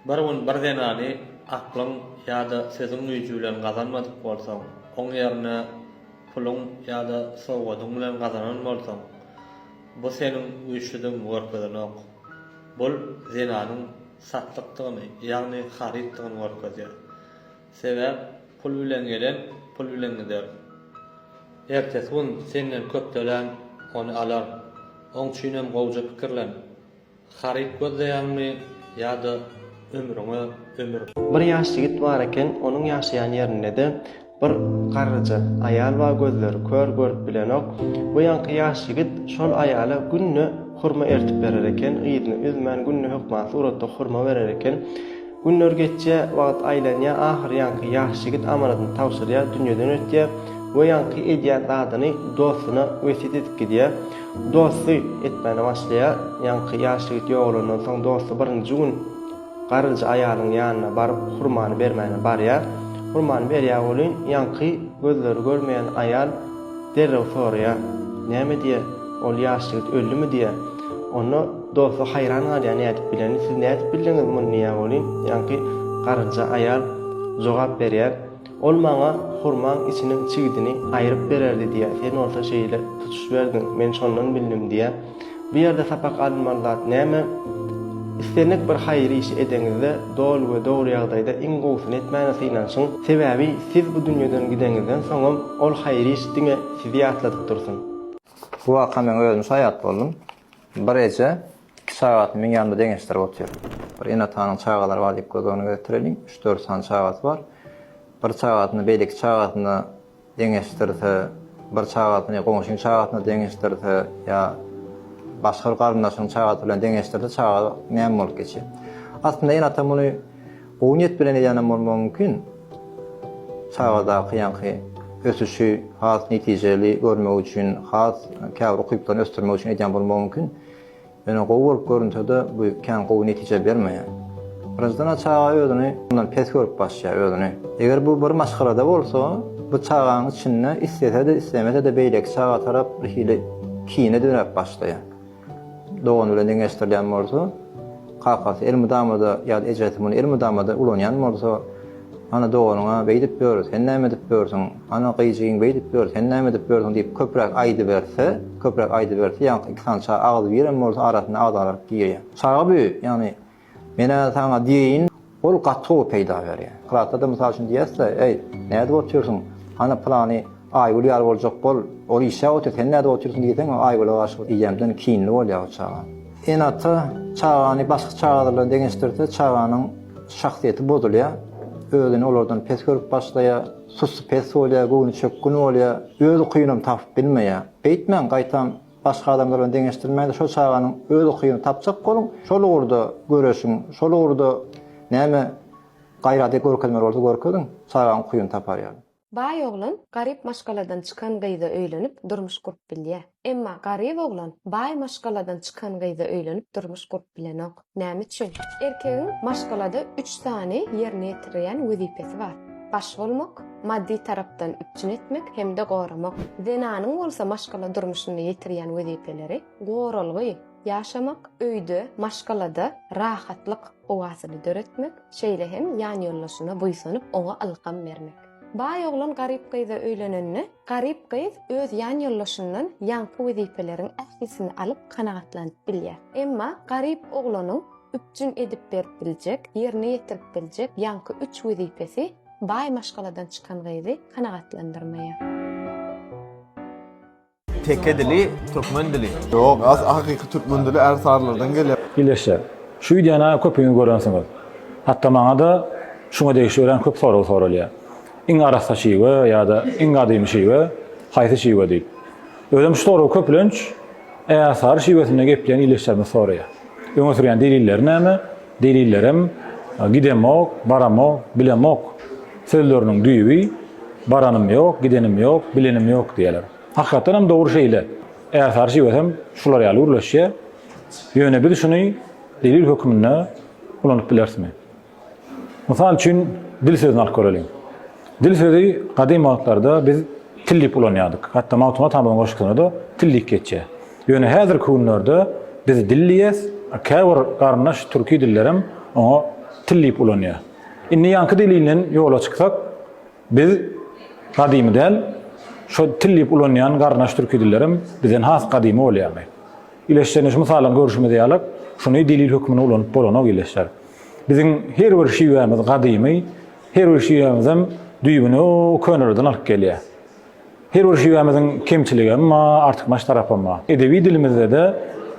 Bir gün bir zenany aklyň ýa-da sözüň güýji bilen gazanmadyk bolsaň, oň ýerine puluň ýa-da sowgadyň bilen gazanan bolsaň, bu seniň güýçlüdigiňi görkezenok. Bul zenanyň satlykdygyny, ýagny harytdygyny görkezýär. Sebäp pul bilen gelen pul bilen gider. Ertesi gün senden köp tölän ony alar. Oň üçinem gowja pikirlen. Haryt gözleýäňmi ýa-da ömrüňe ömür? Bir ýaş ýigit bar eken, onuň ýaşaýan ýerinde-de bir garryja aýal bar gözleri kör görüp bilenok. Bu ýaňky ýaş ýigit şol aýala günde hurma ertip berer eken, yzyny üzmän günde hökman suratda hurma berer eken. Günler geçýär, wagt aýlanýar, ahyr ýaňky ýaş ýigit amanadyny tabşyrýar, dünýeden ötýär we ýaňky edýän zadyny dostuna wesýet edip gidýär. Dosty etmäne başlaýar. Ýaňky ýaş ýigit ýogalandan soň dosty birinji gün garynja aýalyň ýanyna baryp hurmany bermäne barýar. Hurmany berýär welin, ýaňky gözleri görmeýän aýal derrew soraýar, Näme diýýär? Ol ýaş ýigit öldümi diýýär. Onda. Dosty haýran galýar nädip bileni siz nädip bildiňiz muny diýýär welin ýaňky garynja aýal jogap berýär ol maňa hurmaň içiniň çigidini aýryp bererdi diýýär sen bolsa şeýle tutuş berdiň men şondan bildim diýýär bu ýerde sapak alynmaly zat näme islendik bir haýyr işi edeňizde doly we dogry ýagdaýda iň gowusyny etmäne synanşyň sebäbi siz bu dünýeden gideňizden soňam ol haýyr iş diňe sizi ýatladyp dursun. Bu waka men özüm şaýat boldum. Bir eje iki çagasyny meň ýanymda deňeşdirip otyr. Bir ene-atanyň çagalary bar diýip göz öňüne getireliň. Üç-dört sany çagasy bar. Bir çagasyny beýleki çagasyna deňeşdirse, bir çagasyny goňşynyň çagasyna deňeşdirse ýa başga bir garyndaşynyň çagasy bilen deňeşdirse çaga näme bolup geçýär. Aslynda ene-ata muny Gowy niýet bilen edýänem bolmagy mümkin. Çagadaky ýaňky ösüşi has netijeli görmek üçin, has käbir ukyplaryny ösdürmek üçin edýän bolmagy mümkin. Ýöne gowy bolup görünse-de, bu kän gowy netije bermeýär. Birinjiden-ä çaga özüni mundan pes görüp başlaýar özüni. Eger bu bir maşgalada bolsa, bu çagaň içinde islese-de, islemese-de beýleki çaga tarap birhili kine döräp başlaýar. dogany bilen deňeşdirilýän bolsa, kakasy elmydama-da ýa-da ejesi muny elmydama-da ulanýan bolsa, Ana, doganyň-a beýdip ýör, sen näme edip ýörsüň? Ana, gyýjygyň beýdip ýör, sen näme edip ýörsüň? diýip köpräk aýdyberse, köpräk aýdyberse, ýaňky iki sany çaga agzybir hem bolsa arasyna agzalaryk girýär. Çaga bu, ýagny Men-ä saňa diýeýin, ol gaty gowy peýda berýär. Klasda-da mysal üçin diýersiz-ä, Eý, nädip otyrsyň, hany pylany Aýgül ýaly boljak bol, ol işläp otyr, sen nädip otyrsyň diýseň, Aýgüle garşy diýjämden kinli bolýar o çaga. Ene-ata çagany başga çagalar bilen deňeşdirse, çaganyň şahsyýeti bozulýar, özüni olardan pes görüp başlaýar, sussy-pes bolýar, göwnüçökgün bolýar, öz ukyny hem tapyp bilmeýär. Beýtmäň, gaýtam, Başga adamlar bilen deňeşdirmäň-de, şol çaganyň öz ukyny tapjak boluň, şol ugurda göreşiň, şol ugurda näme gaýraty görkezmeli bolsa görkeziň, çagaň ukyny tapar ýaly. Baý oglan garyp maşgaladan çykan gyza öýlenip, durmuş gurup bilýär. Emma garyp oglan baý maşgaladan çykan gyza öýlenip, durmuş gurup bilenok. Näme üçin? Erkegiň maşgalada üç sany ýerine ýetirilýän wezipesi bar. Baş bolmak, maddy tarapdan üpjün etmek hem-de goramak. Zenanyň bolsa maşgala durmuşynda ýetirýän wezipeleri, goralgy, ýaşamak, öýde, maşgalada rahatlyk howasyny döretmek, şeýle hem ýanýoldaşyna buýsanyp, oňa ylham bermek. Baý oglan garyp gyza öýlenende, garyp gyz öz ýan ýoldaşyndan ýaňky wezipeleriň ählisini alyp kanagatlanyp bilýär. Emma garyp oglanyň üpjün edip berip biljek, ýerine ýetirip biljek ýaňky üç wezipesi baý maşgaladan çykan gyzy kanagatlandyrmaýar. Teke dili, türkmen dili. Ýok, as hakyky türkmen dili ärsarylardan gelýär. Ýylyşja. Şu wideony köpiňiz görensiňiz. Hatda maňa-da şuňa degişli örän köp sorag soralýar. Iň arassa şiwe ýa-da iň gadymy şiwe haýsy şiwe diýip. Özem şu soragy köplenç ärsary şiwesinde gepleýän ýylyşjarymyz soraýar. Öňe sürýän delilleri näme? Delillerem, Gidemok, baramok, bilemok sözleriniň düýbi, Baranym ýok, gidenim ýok, bilenim ýok diýýärler. Hakykatdan hem dogry şeýle. Äsarşiwesem şular ýaly gürleşýär. Ýöne biz şuny delil hökmünde ulanyp bilerismi? Mysal üçin, dil sözüni alyp göreliň. Dil sözi gadym wagtlarda biz til diýip ulanýardyk. Hatda Magtymguly Atamyzyň goşgusynda-da til diýip geçýär. Ýöne häzirki günlerde biz dil diýýäs, a käbir garyndaş türki dillerem oňa til diýip ulanýar. Indi ýaňky delilden ýola çyksak, biz gadymy däl, şo til diýip ulanýan garyndaş türki dillerem bizden has gadymy bolýarmy? Ýyleşjegine şu mysaldan görşümiz ýaly, şuny delil hökmünde ulanyp bolanok ýyleşjer. Biziň her bir şiwämiz gadymy. Her bir şiwämizem düýbüni o könelerden alyp gelýär. Her bir şiwämiziň kemçiligi hem bar, artykmaç tarapy hem bar. Edebi dilimizde-de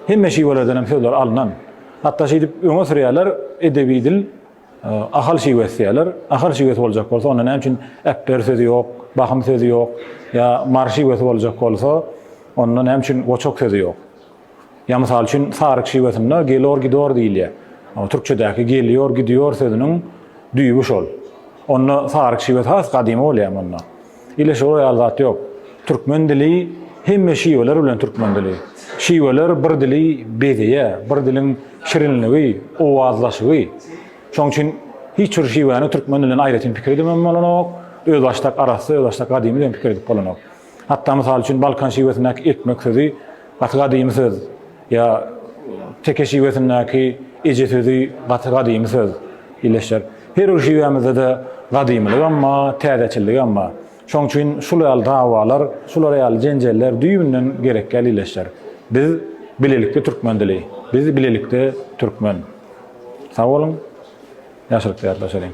hemme şiwelerden hem sözler alnan. Hatda şeýdip öňe sürýärler, edebi dil Ahal şiwesi diýýärler. Ahal şiwesi boljak bolsa, onda näme üçin äpber sözi ýok, bahym sözi ýok? Ýa Mary şiwesi boljak bolsa, onda näme üçin goçak sözi ýok? Ýa mysal üçin saryk şiwasynda gelor gidor diýilýär. Türkçedäki geliýor gidiýor sözüniň düýbi şol. Onda saryk şiwesi has gadymy bolýar munda. Ile şol ýaly zat ýok. Türkmen dili hemme şiweler bilen türkmen dili. Şiweler bir dili bezeýär, bir diliň şirinligi, owazlaşygy. Şoň üçin hiç bir şiwäni türkmen dilinden aýratyn pikir edibem bolanok, özbaşdak arassa, özbaşdak gadymy diýen pikir edip bolanok. Hatda mysal üçin balkan şiwesindäki ekmek sözi gaty gadymy söz ýa teke şiwesindäki eje sözi gaty gadymy söz illeşýär. Her bir şiwämizde-de gadymylygam bar, täzeçilligem bar. Şonuň üçin şul ýaly dawalar, şular ýaly jenjeller düýbünden gerek däl illeşýär. Biz bilelikde türkmen dili, biz bilelikde türkmen. Sag boluň, ýagşylyk diler daşaryň.